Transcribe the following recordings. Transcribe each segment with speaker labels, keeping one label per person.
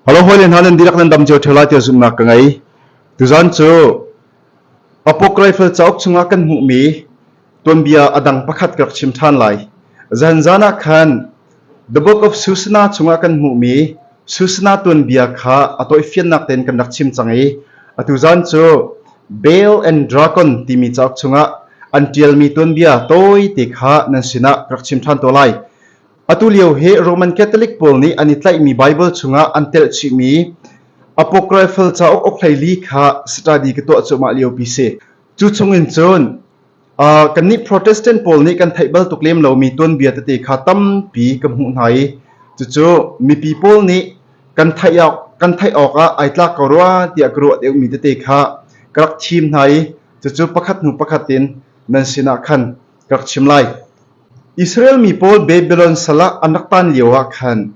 Speaker 1: Alo hawile hna nan dihlak nan dam cio ṭheo lai tiah zumhnak ka ngei. Tuzan cu Apok Rifle cauk chungah kan hmuhmi tuanbia a dang pakhat ka rak chim ṭhan lai. Zan zan ah khan The Book of Susana chungah kan hmuhmi Susana tuanbia kha a toifiannak tein kan rak chim cang i atu zan cu Bale and Dragon timi cauk chungah an ṭialmi tuanbia tawite kha nan sinah ka rak chim ṭhan te lai. Atulio hi Roman Catholic pawl nih an i tlaihmi Baibal chungah an telh chihmi Apocryphal cauk uk hleili kha study ka tuah cuahmah liopi si. Cu chungin cun uh, kannih Protestant pawl nih kan theih bal tuk lem lomi tuanbia tete kha tampi ka hmuh hna i cucu mipi pawl nih kan theih awk kan theih awkah ai tlak ko rua tiah ka ruah deuhmi tete kha ka rak thim hna i cucu pakhat hnu pakhat in nan sinah khan rak chim lai. Israel mi pawl Babylon sal ah an rak tan lio ah khan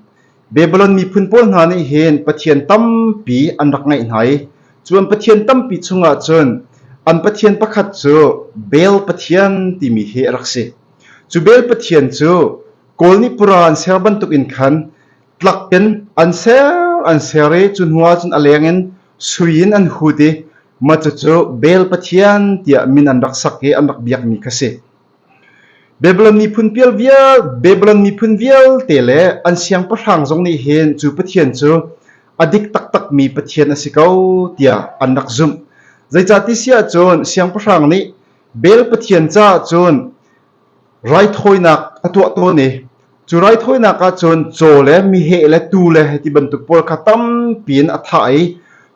Speaker 1: Babylon miphun pawl hna nih hin Pathian tampi an rak ngeih hna i cun Pathian tampi chungah cun an pathian pakhat cu Bel Pathian timi hi a rak si. Cu Bel Pathian cu kawl nih pura an ser bantuk in khan tlak in an ser an ser i cu hnuah cun a leng in sui in an hut i Macu cu Bel pathian tiah min an rak sak i an rak biakmi kha si. Babylon miphun pial vial, Babylon miphun vialte le an siangpahrang zong nih hin cu pathian cu a dik taktakmi pathian a si ko tiah an rak zumh. Zeicah ti siah cun siangpahrang nih Bel pathian caah cun Raithawinak a tuah tawn i cu raithawinak ahcun caw le meheh le tuu le hi ti bantuk pawl kha tampi in a thah i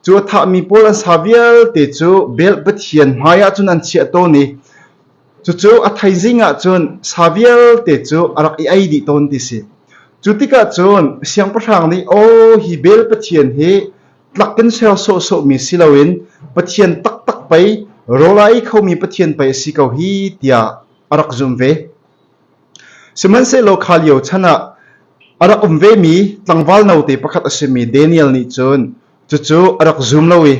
Speaker 1: cu a thahmi pawl an sa vialte cu Bel Pathian hmai ah cun an chiah tawn i cucu a thaizing ah cun sa vialte cu a rak i ei dih tawn ti si. Cu tikah cun siangpahrang nih aw hi Bel Pathian hi Tlak kan ser sawhsawhmi si loin Pathian taktak pei rawl a ei khomi Pathian pei a si ko hi tiah a rak zumh ve. Sihmanhsehlaw kha lio chan ah a rak um vemi tlangval note pakhat a simi Daniel nih cun cucu a rak zum lo i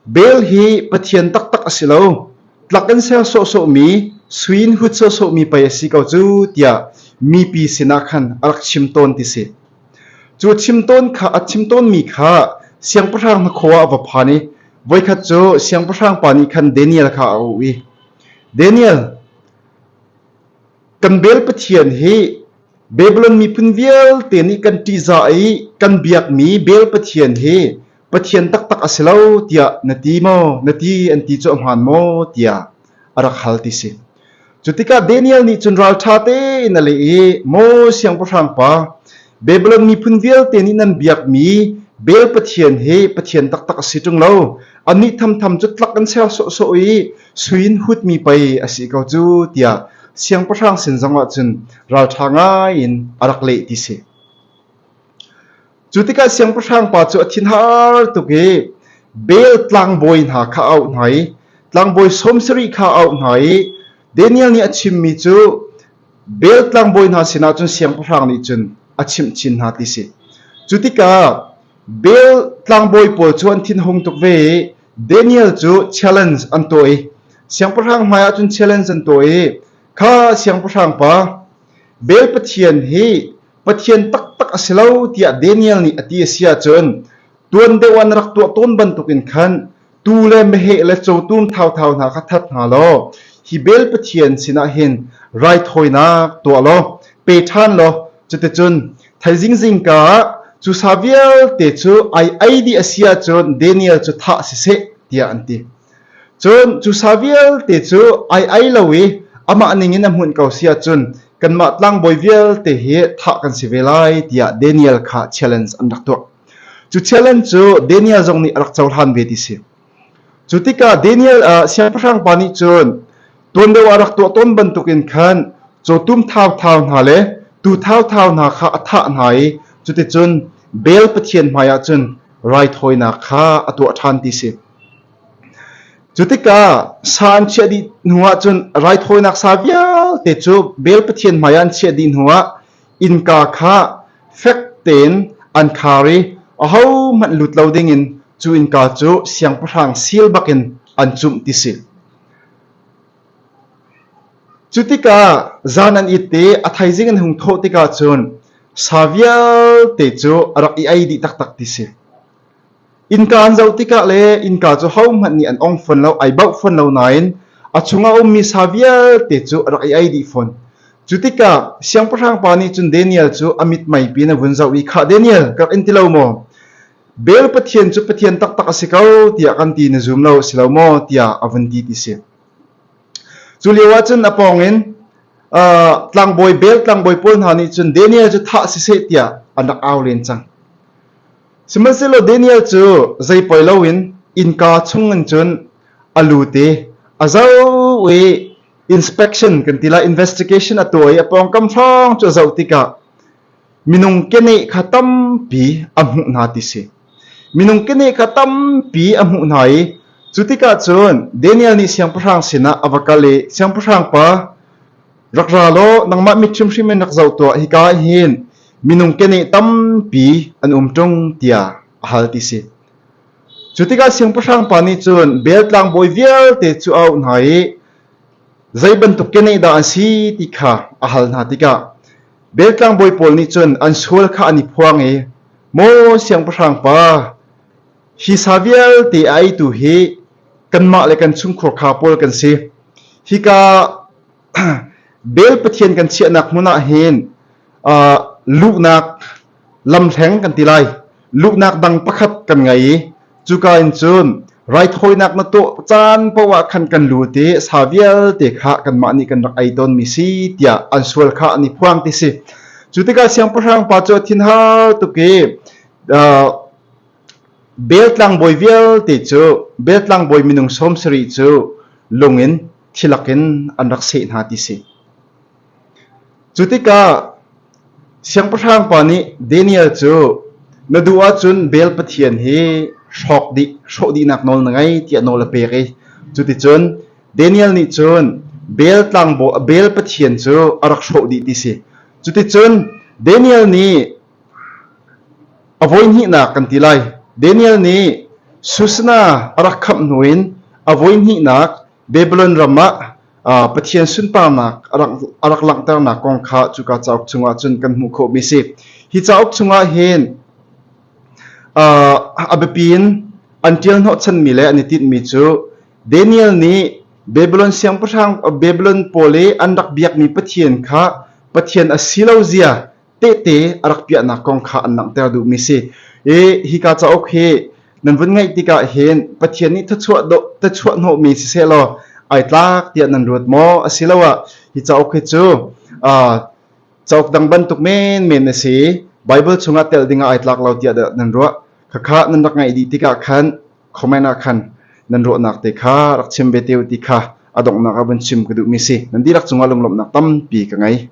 Speaker 1: Bel hi Pathian taktak a si lo tlak kan ser sawhsawhmi suin hut sawhsawhmi pei a si ko cu tiah mipi sinah khan a rak chim tawn ti si. Cu chim a chim tawnmi kha siangpahrang hnakhaw ah va phan i voikhat cu siangpahrang pa nih khan Daniel kha a auh i, Daniel, kan Baal pathian hi Babilon miphun vialte nih kan ṭihzah i kan biakmi Baal pathian hi pathian taktak a si lo tiah na ti maw? Na ti an ti cu a hmaan maw? tiah a rak hal ti si. Cutikah Daniel nih cun ralṭha tein a leh i, Maw siangpahrang pa, Babilon miphun vialte nih nan biakmi Bel pathian hi pathian taktak a si ṭung lo. Annih thamtham cu tlak an ser sawhsawh i suin hutmi pei a si ko cu, tiah siangpahrang sin zongah cun ralṭha ngai in a rak leh ti si. Cu tikah siangpahrang pa cu a thinhar tuk i Bel tlangbawi hna kha a auh hna i tlangbawi sawm sarih kha a auh hna i Daniel nih a chimmi cu Bel tlangbawi hna sinah cun siangpahrang nih cun a chimh chin hna ti si. Cu tikah Bel tlangbawi pawl cu an thinhung tuk ve i Daniel cu challenge an tuah i siangpahrang hmaiah cun challenge an tuah i kha siangpahrang pa Bel Pathian hi Pathian taktak a si lo tiah Daniel nih a ti a si ahcun tuan deuh an rak tuah tawn bantukin khan tuu le meheh le cawtum thauthau hna kha that hna law hi bel pathian sinah hin raithawinak tuah law pe ṭhan law cuticun thaizing zingka ah cu sa vialte cu ai ai dih a si ahcun Daniel cu thah siseh tiah an ti. Cun cusa vialte cu ai ei lo i amah ningin a hmunh ko si ahcun kanmah tlangbawi vialte hi thah kan si ve lai tiah Daniel kha challenge an rak tuah. Cu challenge cu Daniel zong nih a rak cohlan ve ti si. Cu tikah Daniel ah siangpahrang pa nih cun tuan deuh a rak tuah tawn bantukin khan cawtum thauthau hna le tu thauthau hna kha a thah hna i cuticun Bel pathian hmaiah cun raithawinak kha a tuah ṭhan ti si. Cu tikah sa an chiah dih hnu ahcun raithawinak sa vialte cu Bel Pathian hmaiah an chiah dih hnuah innka kha fek tein an khar i ahohmanh lut lo dingin cu innka cu siangpahrang seal bakin an cumh ti si. Cu tikah zan an it i a thaizing an hung thawh tikah cun sa vialte cu a rak i ei dih taktak ti si. Innka an zoh tikah le innka cu hohmanh nih an ong fawn lo, ai bauh fawn lo nain a chung a ummi sa vialte cu a rak i ei dih fawn. Cu tikah siangpahrang pa nih cun Daniel cu a mithmai pi in a vun zoh i khah Daniel ka rak in ti lo maw? Bel Pathian cu Pathian taktak a si ko tiah kan ti na zum lo si lo maw tiah a vun ti ti si. Cu lio ah cun a pawng in uh, tlangbawi Bel tlangbawi pawl hna nih cun Daniel cu thah si seh tiah an rak au len cang. Sihmanhsehlaw Daniel cu zei poi loin innka chungin cun a lut i a zoh i inspection kan ti lai, investigation a tuah i a pawngkam hrawng cu a zoh tikah minung keneh kha tampi a hmuh hna ti si. Minung keneh kha tampi a hmuh hna i cu tikah cun Daniel nih siangpahrang sinah a va kal i, Siangpahrang pa, Rak ra law nangmah mit hrimhrim in rak zoh tuah, hika ah hin minung keneh tampi an um ṭung tiah a hal ti si. Cu tikah siangpahrang pa nih cun Bel tlangbawi vialte cu a auh hna i zei bantuk keneh dah an si ti kha a hal hna tikah Bel tlangbawi pawl nih cun an sual kha an i phuang i Maw siangpahrang pa, hi sa vialte a eitu hi kanmah le kan chungkhur kha pawl kan si. Hika Bel Pathian kan chiahnak hmun ah hin uh, luhnak lamhleng kan ti lai. Luhnak dang pakhat kan ngei i cuka in cun raithawinak na tuah caan poah khan kan lut i sa vialte kha kanmah nih kan rak ei tawn mi si tiah an sual kha an i phuang ti si. Cu tikah siangpahrang pa cu thin har tuk i uh, Bel tlangbawi vialte cu Bel tlangbawi minung som sari cu lung in thilak in an rak seh hna ti si. Cu tikah siangpahrang pa nih Daniel cu na duh ahcun Bel Pathian hi hrawk dih hrawh dihnak nawl na ngei tiah nawl a pek i cuticun Daniel nih cun Bel tlangbaw Bel Pathian cu a rak hrawh dih ti si. Cuticun Daniel nih A voihnihnak kan ti lai. Daniel nih Susna a rak khamh hnu in a voihnihnak Babylon ram ah aa Pathian sunparnak a rak, a rak langhternak kong kha cuka cauk chungah cun kan hmuh khawhmi a si. Hi cauk chungah hin uh, a biapi in an ṭial hnawhchanmi le an i tinhmi cu Daniel nih Babylon siangpahrang Babylon pawl i an rak biakmi Pathian kha Pathian a si lo zia tehte a rak piahnak kong kha an langhter duhmi a si i hika cauk hi nan vun ngaih tikah hin Pathian nih thluachuah hnawhmi sisehlaw ai tlak tiah nan ruat maw asiloah hi cauk hi cu cauk dang bantuk menmen a si Baibal chungah tel dingah ai tlak lo tiah nan ruah khakha nan rak ngaih dih tikah khan comment ah khan nan ruahnak te kha rak chim ve te ti kha a donghnak ah vun chim ka duhmi si nan dihlak cungah lunglawmhnak tampi ka ngei